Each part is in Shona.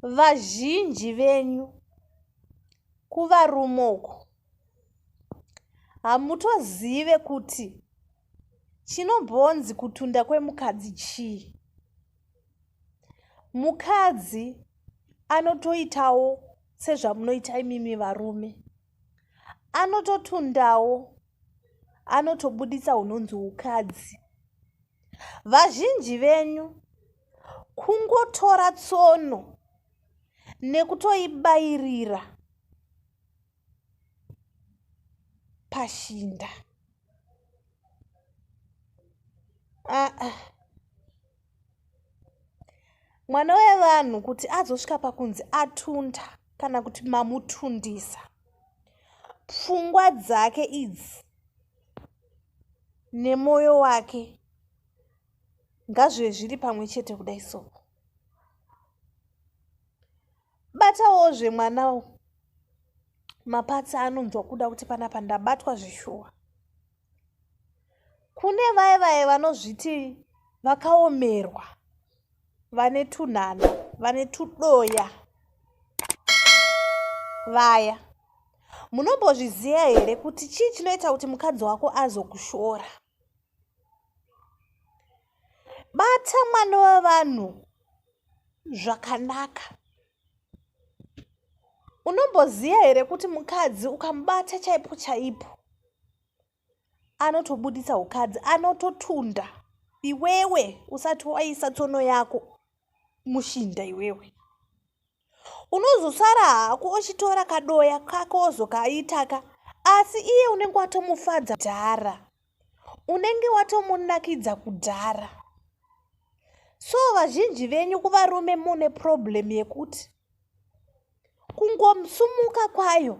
vazhinji venyu kuvarume uku hamutozive kuti chinombonzi kutunda kwemukadzi chii mukadzi anotoitawo sezvamunoita imimi varume anototundawo anotobuditsa hunonzi ukadzi vazhinji venyu kungotora tsono nekutoibayirira pashinda aa ah, ah. mwana wevanhu kuti azosvika pakunzi atunda kana kuti mamutundisa pfungwa dzake idzi nemwoyo wake ngazvive zviri pamwe chete kudai so batawozve mwana mapatsi anonzwa kuda kuti panapa ndabatwa zvishuwa kune vaye vaye vanozviti vakaomerwa vane tunhana vane tudoya vaya munombozviziva here kuti chii chinoita kuti mukadzi wako azokushora bata mwana wevanhu zvakanaka unomboziva here kuti mukadzi ukamubata chaipo chaipo anotobuditsa ukadzi anototunda iwewe usati waisa tsono yako mushinda iwewe unozosara hako uchitora kadoya kako ozokaitaka asi iye unenge watomufadza dhara unenge watomunakidza kudhara so vazhinji venyu kuvarume mune problem yekuti kungomsumuka kwayo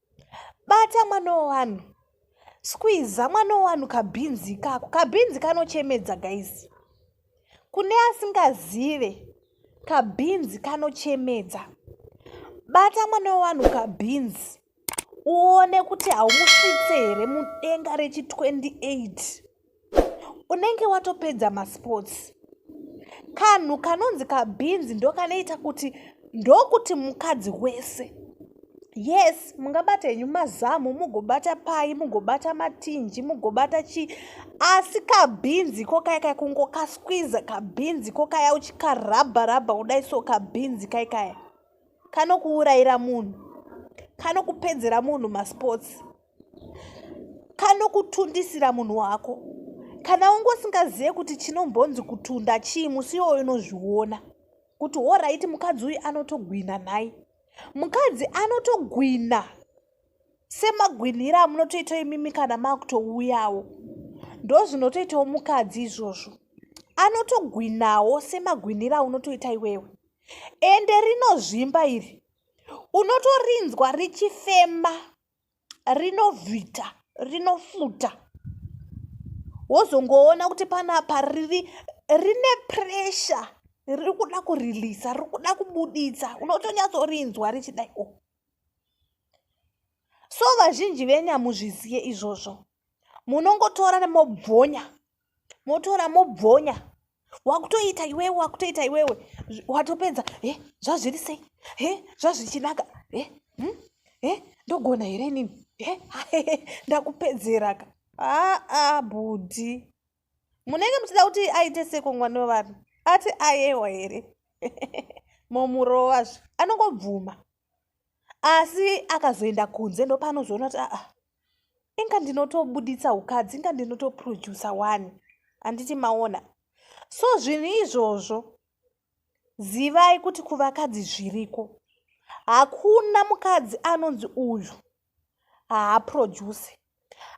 bata mwana wevanhu skwiza mwana wevanhu kabhinzi kako kabhinzi kanochemedza guys kune asingazive kabhinzi kanochemedza bata mwana wevanhu kabhinzi uone kuti haumusvitse here mudenga rechi 28 unenge watopedza masports kanhu kanonzi kabhinzi ndokanoita kuti ndokuti mukadzi wese yes mungabata henyu mazamu mugobata pai mugobata matinji mugobata chii asi kabhinzi ko kai kai kungokasquiza kabhinzi ko kaya uchikarabha rabha kudai so kabhinzi kai kaya kanokuurayira munhu kanokupedzera munhu masports kanokutundisira munhu wako kana unge usingazive kuti chinombonzi kutunda chii musi iwoyo unozviona kuti horaiti mukadzi uyu anotogwina nhai mukadzi anotogwina semagwinhira amunotoitawo imimi kana makutouyawo ndozvinotoitawo mukadzi izvozvo anotogwinawo semagwinhira aunotoita iwewe ende rinozvimba iri unotorinzwa richifema rinovhita rinofuta wozongoona kuti panapa riri rine pressure riri kuda kurilisa riri kuda kubuditsa unotonyatsorinzwa richidai o oh. so vazhinji venyamuzviziye izvozvo munongotora mobvonya motora mobvonya wakutoita iwewe wakutoita iwewe watopedza e zvazviri sei e zvazvichinaka e hm? e ndogona here inini e ndakupedzeraka aa bhudhi munenge muchida kuti aite seko mwana wevanhu ati ayewa here momurova zve anongobvuma asi akazoenda kunze ndopaanozoona kuti aa inga ndinotobuditsa ukadzi inga ndinotoprodusa wani handiti maona so zvinhu izvozvo zivai kuti kuvakadzi zviriko hakuna mukadzi anonzi uyu haaproduce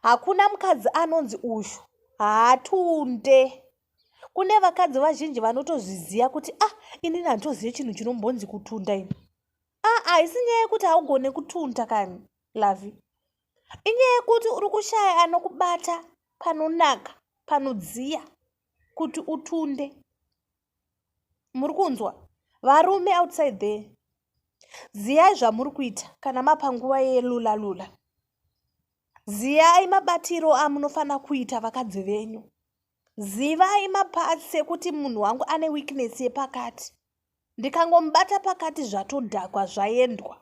hakuna mukadzi anonzi uyu haatunde kune vakadzi vazhinji vanotozviziva kuti ah inini handitozive chinhu chinombonzi kutunda ini ah haisi ah, nyaya yekuti haugone kutunda kani lavi inyaya yekuti uri kushaya anokubata panonaka panodziya kuti utunde muri kunzwa varume outside there ziyai zvamuri kuita kana mapanguva yelula lula ziyai mabatiro amunofanira kuita vakadzi venyu zivai mapatsi ekuti munhu wangu ane weakness yepakati ndikangomubata pakati zvatodhakwa zvaendwa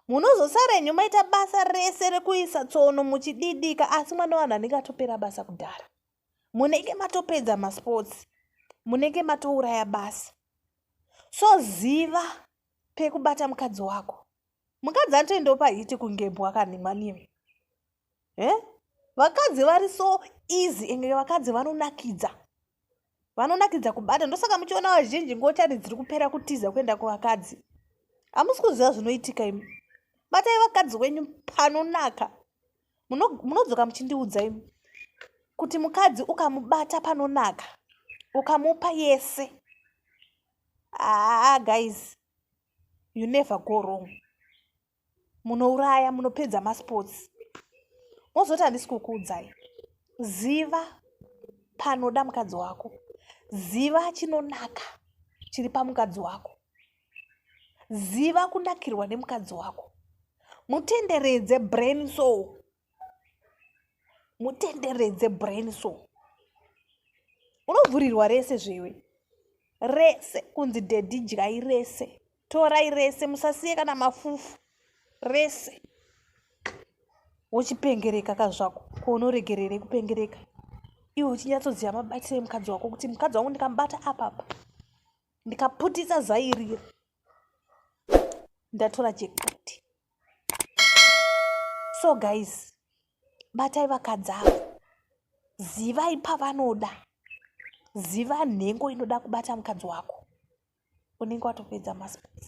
munozosarenyu maita basa rese rekuisa tsono muchididika asi mwana wanhu anenge atopera basa kudhara munenge matopedza masports munenge matouraya basa so ziva pekubata mukadzi wako mukadzi anotoendawo pahiti kungebwa kanhimwanimi e eh? vakadzi vari so easy enge vakadzi vanonakidza vanonakidza kubata ndosaka muchiona vazhinji ngotani dziri kupera kutiza kuenda kuvakadzi hamusi kuziva zvinoitika imi batai vakadzi wenyu panonaka munodzoka muchindiudza imi kuti mukadzi ukamubata panonaka ukamupa yese aa ah, guys you never go wrong munouraya munopedza masports mozoti handisi kukuudzai ziva panoda mukadzi wako ziva chinonaka chiri pamukadzi wako ziva kunakirwa nemukadzi wako mutenderedze brain so mutenderedze brain so unovhurirwa rese zvewe rese kunzi dhedhi dyai rese torai rese musasiye kana mafufu rese wochipengereka ka zvako kounoregerere kupengereka iwe uchinyatsoziva mabatiro emukadzi wako kuti mukadzi wangu ndikamubata apapa ndikaputisa zairiri ndatora jekpoti so guys batai vakadzavo zivai pavanoda ziva nhengo inoda kubata mukadzi wako unenge watopedza masports